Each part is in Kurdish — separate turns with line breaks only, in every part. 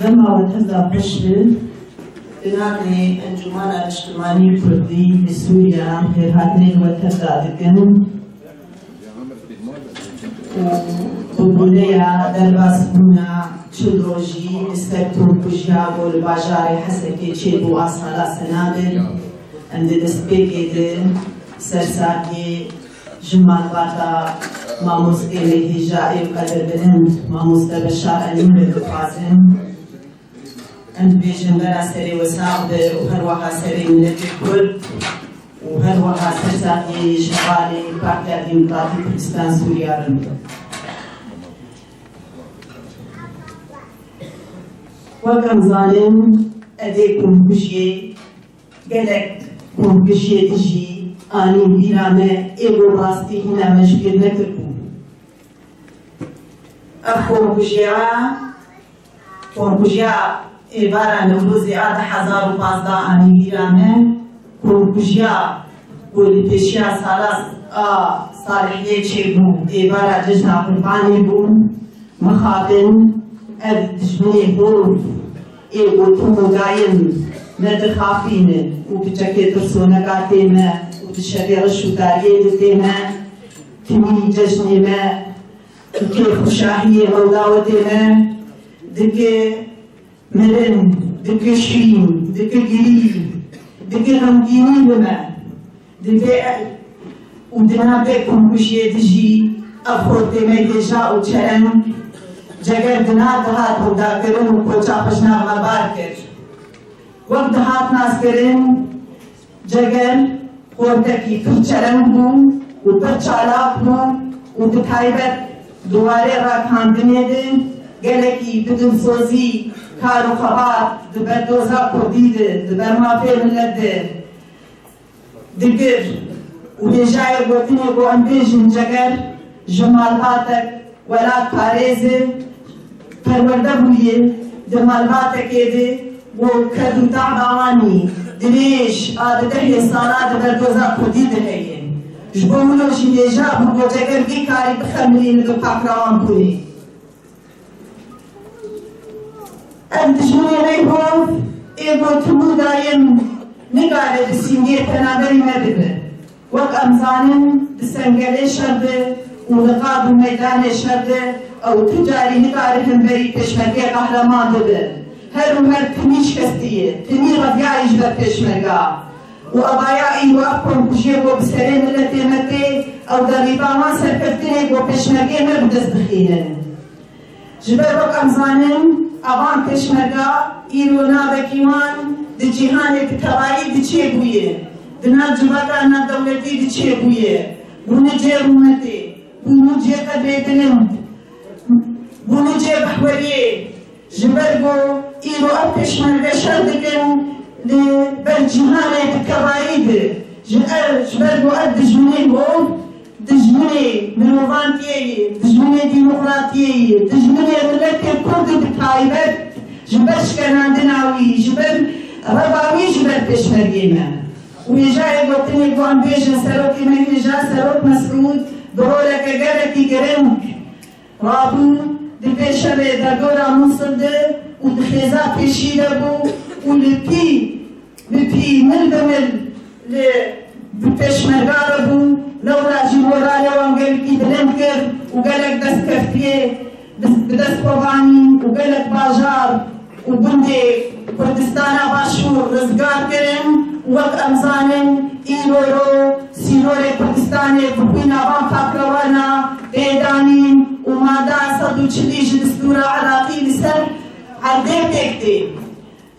Dema Hêza Pişil, binanê Encûmana Niştimanî Kurdî li Sûriya hêrhatinên we tev dadikin û bi boneya derbasbûna çil rojî li ser torkujiya ku li bajarê Hesekê çêbû a sala senadir, em di destpêkê di ser saliyê Ji malbata Mamoste Nêdî Jaê û Qedirbilind Mamoste Beşar Enûrê dixwazim em bibêjin vera serê we sax be û herweha serê miletê Kurd û herweha ser saxiyê yê ji hevalê Partiya Demokratîk Kurdistan Sûriya re be. Wek em zanin edê komkujiyê, Gelek gorpişê dijî anî bîra me ê bo rastî xwe ne hişbîr nekiribû. Ev xorkujiya xorkujiya êvara Newrozê a du hezar û pazdeh anî bîra me xorkujiya ku li pêşiya Salas a Salihiyê çêbû êvara Cejna Qurbanê bû. Mixabin ev dijminê xorû. Ê û tu hogayên me dixapînin û bi çekê tirsoneka tê me û di şevê riş û dariyê de tê me, timî cejnê me dike, xuşahiyê hewla we tê me dike, mirin dike şîn dike girî dike, xemgînî bi me Di vê el û di nav vê komkujiyê de jî ev xort tê mêkêja û çereng ceger di nav dihat hewdakirin û koça xwe ji nav me bar kir. Wek dihat naskirin ceger xortekî pir çereng bû û pir çalak bû û bi taybet di warê ragihandinê de gelekî bi dilsozî kar û xebat di ber doza kurdî de di ber mafê milet de Di gir û hêjayê gotinê ku em bêjin ceger ji malbatek, welat parêzê, perwerde bûye, di malbatekê de ku ked û tacba wan î dirêj a di dehê salan di ber doza kurdî de heye. Ji bo wilo jî hêja bû ku ceger vî karî bixemilîne di pakrawanpûrê. Em di jinanê xwe ê ku tûbû dayên nikare bi sîngê penaberî me bibe. Wek em zanin di sengerê şer de û li qad û meydanê şer de ew tu carî nikare hemberî pêşmergê qehreman bibe. Her û her timî şikestî ye, timî reviyayî ji ber pêşmerga. Û avaya îro ev komkujiyê ku bi serê miletê me tê, ew derrîba wan serkeftinê ku pêşmergeyê me bi dest bixînin. Ji ber ku em zanin avan pêşmerga îro navekî wan di cîhanê bi tevayî diçê bûyê, di nav civaka navdewletî diçê bûyê, bûnû cê rûmetê, bûnû cê qedrê bilind, bûnû cê mehweriyê, Ji ber ku îro ev pêşmerge şer dikin li ber cîhanê bi tevayî de ji er ji ber ku ev dijminên hov, dijminê mirovantiyê ye, dijminê demokratiyê ye, dijminê miletê kurd û bi taybet ji ber şkenandina wî ji bin reva wî ji ber pêşmergê me û hêjayê gotinê ku em bêjin serokê me hêja serok Mesûd bi roleke gelekî giring Rabû di pêşerê derdora Mûsil de û di xêza pêşî de bû û li pî bi pî, mil bi mil li bi pêşmerga re bû. Lewra jî moralê wan gelkî bilind kir û gelek destkeftiyê bi dest xwe vanîn û gelek bajar, û gundê Kurdistana Başûr rizgar kirin û wek em zanin îro ro sînorê Kurdistanê bi xwîna van fakirewana tê danîn û mada sed û çilî ji distûra Iraqî li ser erdê pêk tê.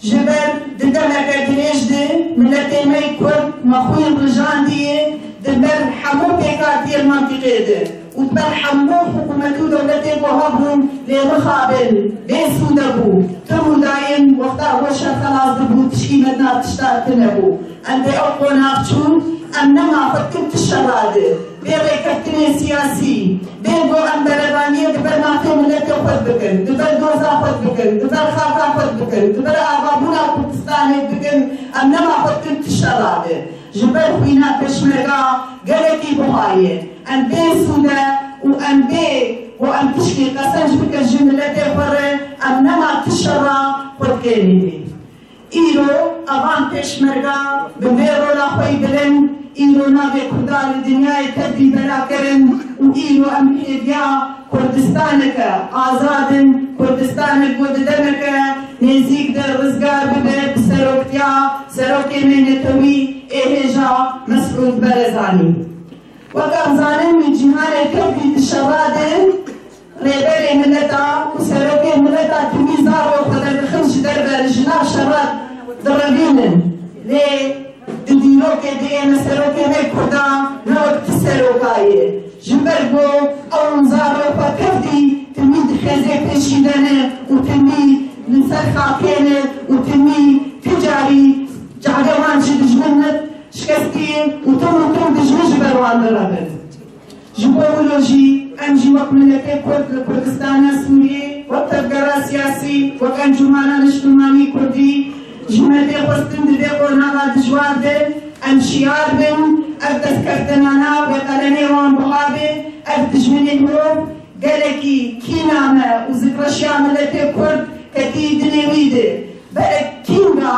Ji ber di demeke dirêj de miletê me yê Kurd me xwîn rijandiye di ber hemû pêkhatiyên mentiqê de. Û per hemû hikûmet û dewletên ku hebûn lê mixabin, bê sûd e bû. Tim û dayim wexta ku şer xelas dibû tişkî me di nav tişta di nebû. Em dê ew qonax çûn, em nema xwe dikin ti şer ra di. Bê rêkeftinên siyasî, bê ku em berevaniyê di ber mafê miletê xwe di bikin, di ber doza xwe di bikin, di ber xaka xwe di bikin, di ber avabûna Kurdistanê di bikin, em nema xwe dikin ti şer ra di. Ji ber xwî ne Pêşmerga gelekî bixwayê em bê sûde û em bê ku em tişkî qesenc bikin ji miletê xwe re em nema ti şera xwe dikê nîvî. Îro a van Pêşmerga bi vê rola xwe yî bilind îro navê Kurda li dinyayê tevlî bela kirin û îro em hêviya Kurdistaneke azad in, Kurdistanek ku di demeke nêzîk de rizgar bibe bi seroktiya Serokê me Netewî ê hêja Mesûd Berezanî. Weka zanîn wî cîhanê Tirkî di şerra de rêberê mileta û serokê mileta timî zarok xwe derdixin ji derve li jina şerra direvînin lê Di dîrokê de yê me serokê rê kurdan ne wek ti seroka ye. Ji ber ku ew wisa rê xwe kevtî timî dixeze pêşî de ne û timî li ser xakê ne û timî ti carî cadê wan ji dijmin ne şikestî û tim û tim dijmin ji ber wan direbin. Ji bo wilo jî em jî wek miletê kurd li Kurdistana Sûriyê, wek tevgera siyasî, wek encûmana niştimanî kurdî ji me tê xwestin di vê qonaxa dijwar de em şiyar bin, ev destkeftena nav li qelemê wan buha bê, ev dijminên mirov gelekî kîna me û zikreşiya miletê kurd ketî di nêwî de. Berek kînga.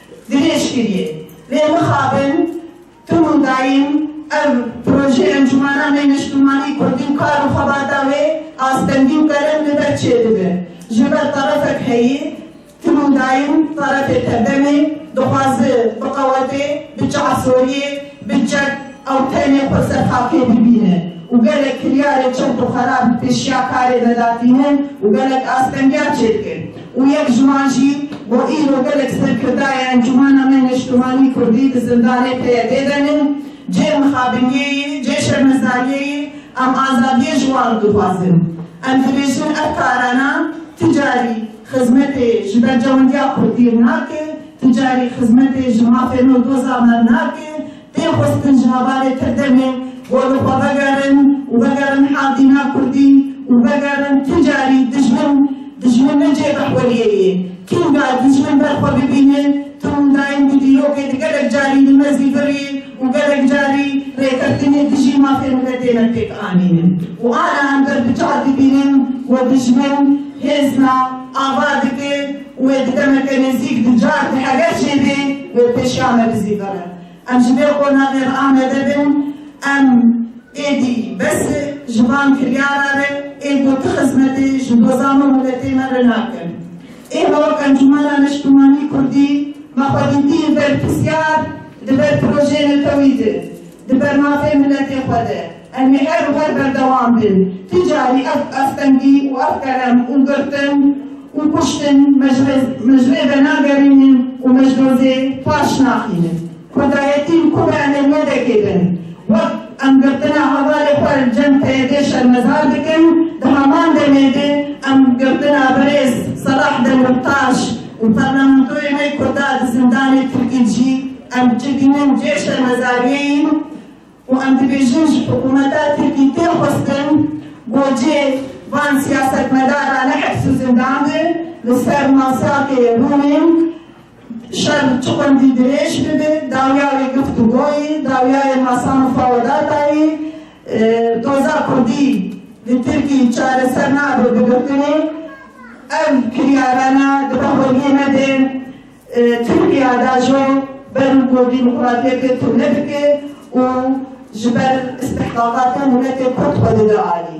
Dirêj kiriye. Lê mixabin tim û dayîn ev projeyê Encûmena Nê Niştimanî Kurdîn kar û xebata wê astengî û kerem li ber çê dibe. Ji ber terefek heye tim û dayîn terefê tevdemê dixwaze biqewete, bi çavsoriyê, bi çek, Ew tenê xwe serxafê dibîne û gelek kiryarê çewt û xerab bi pêşiya karê ve da tînin û gelek astengiyar çêdikin û yek ji wan jî bo îro gelek serkirdayê Encûmena me Neştimanî Kurdî di zindanê teye dê denin. Cê mixabiniyê yê, cê şermezariyê yê, em azadiyê ji wan dixwazin. Em dibêjin ev karana ti carî xizmetê ji berjewendiya Kurdî nake, ti carî xizmetê ji mafê nû doza me nake. Tê xwestin jinavarê te demê xwe li xwe vegerin û vegerin Hazîna Kurdî û vegerin tu carî dijmin dijmin ne cêka xweriyê ye. Kînga dijmin ber xwe bibîne tu windayên bi dîrokê di gelek carî li mezî vir yê û gelek carî rêkeftinê dijî mafê mile têne pêk anînin û ana em ber bi çar dibînin ku dijmin hêzna ava dike, Wê di demeke nêzîk di car di heger çêbê wê pêşiya me bi zî vere. Em ji vê qonaxê re amade bin, em êdî bes e ji van kiryara re ê ku ti xizmetê ji bo zam û miletê me re nakin. Ême wek Encûmena Neştimanî Kurdî me xwe dîtîn ber pisyar di ber projeyê netewî de, di ber mafê miletê xwe de. Em ê her û her berdewam bin. Ti carî ev astengî û ev kerem û girtin û kuştin me ji rê venagerînin û me ji dozê paş naxînin. Kurdayetîn ku be em ê wêdekê bin. Wek em girtina hevalê xwe li cem PYD'ê şermezar dikin, di heman demê de em girtina birêz Selah Demirtaş û parlamentoyê me kurda di zindanê Tirkî jî em çi dînin cê şermezariyê yîn. Ku em dibêjin ji hikûmeta Tirkî tê xwestin gocê van siyasetmedaran li heps û zindan de li ser masakê rûnin şer çi qundî dirêj bibe, dawiya wê giftûgoyê, dawiya yê masa mufawedataê doza kurdî li Tirkî çareser nabe bi girtinê. Ev kiryarana dibe holiyê me de. Tirkiya da jo ber û ku dîmokratiyetê tune dike û ji ber îstihqaqata miletê kurd xwe dide alî.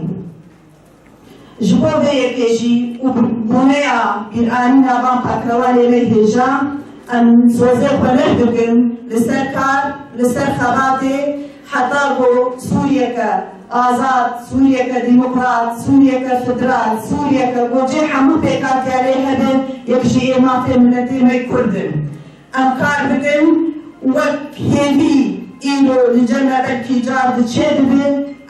Ji bo vê yekê jî û bi boneya bîranîna van pakrawanê lê hêja em sozê xwe leh dikin li ser kar, li ser xebatê, Heta ku Sûriyeke azad, Sûriyeke demokrat, Sûriyeke federal, Sûriyeke ku cih hemû pêkatiya lê hebe yek ji ê mafên miletê me Kurd in. Em kar dikin wek hêvî îro li cem me belkî car di çê dibe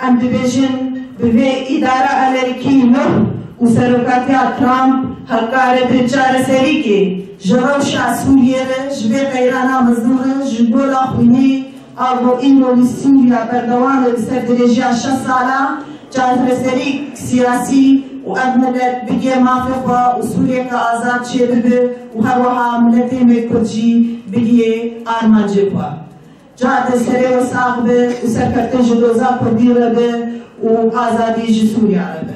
em dibêjin bi vê îdara Amerîkî nuh û serokatiya Trump hevkare bi çareserîkê ji rewşa Sûriyê re ji vê qeyrana mezin re ji gola xwînê A bo îro li Sûriya berdewam e li ser dirêjiya şeş sala çareserîk siyasî û ev milet bigê mafê xwe û Sûriyeke azad çêbibe û herweha miletê me Kurd jî bigihê armancê xwe. Cade serê we sax be û serkeftin ji doza Kurdî re be û azadî ji Sûriya re be.